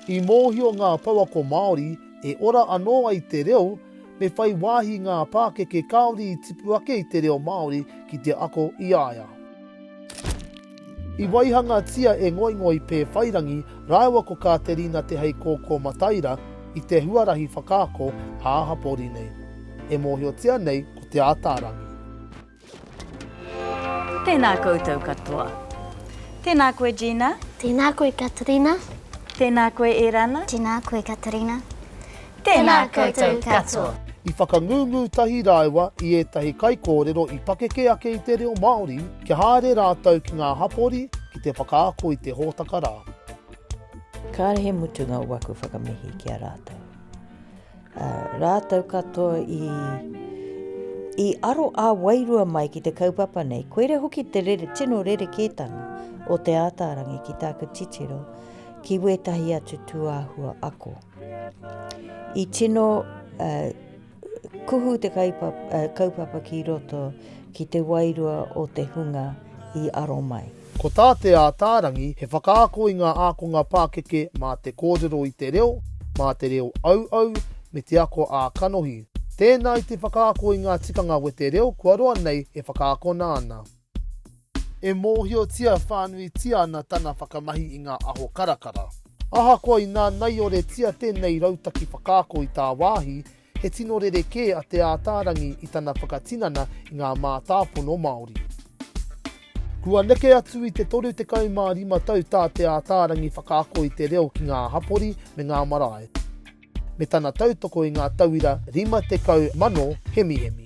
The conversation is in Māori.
I mōhio ngā pouako Māori e ora anō ai te reo, me whai wāhi ngā pākeke kāore i tipu ake i te reo Māori ki te ako i a ia. I waihangatia e Ngoingoi Pēwhairangi rāua ko Kāterina Te Heikōkō Mataira i te huarahi whakaako ā-hapori nei, e mōhiotia nei ko Te Ataarangi. Tēnā koutou katoa. Tēnā koe Gina. Tēnā koe Katerina. Tēnā koe Erana. Tēnā koe Katerina. Tēnā koutou katoa. I whakangungu tahi rāua i ētahi kaikōrero i pakeke ake i te reo Māori kia haere rātou ki ngā hapori ki te whakaako i te hōtaka rā. Kāre he mutunga o waku whakamihi ki a rātou. Rātou katoa i, i aro ā wairua mai ki te kaupapa nei. Koira hoki te rere, tino rerekētanga o Te Ātaarangi ki tāku titiro ki wētahi atu tūāhua ako. I tino uh, kuhu te kaupapa, uh, kaupapa ki roto ki te wairua o te hunga i aro mai. Ko tā Te Ātaarangi, he whakaako i ngā ākonga pākeke mā te kōrero i te reo, mā te reo auau, me te ako ā-kanohi. Tēnā i te whakaako i ngā tikanga wete reo kua roa nei e whakaakona ana. E mōhiotia whānuitia ana tana whakamahi i ngā aho karakara. Ahakoa i nānaioretia tēnei rautaki whakaako i tāwāhi, He tino rerekē a Te Ātaarangi i tana whakatinana i ngā mātāpono Māori. Kua neke atu i te 35 tau tā Te Ātaarangi whakaako i te reo ki ngā hapori me ngā marae, me tana tautoko i ngā tauira 50 mano hemihemi.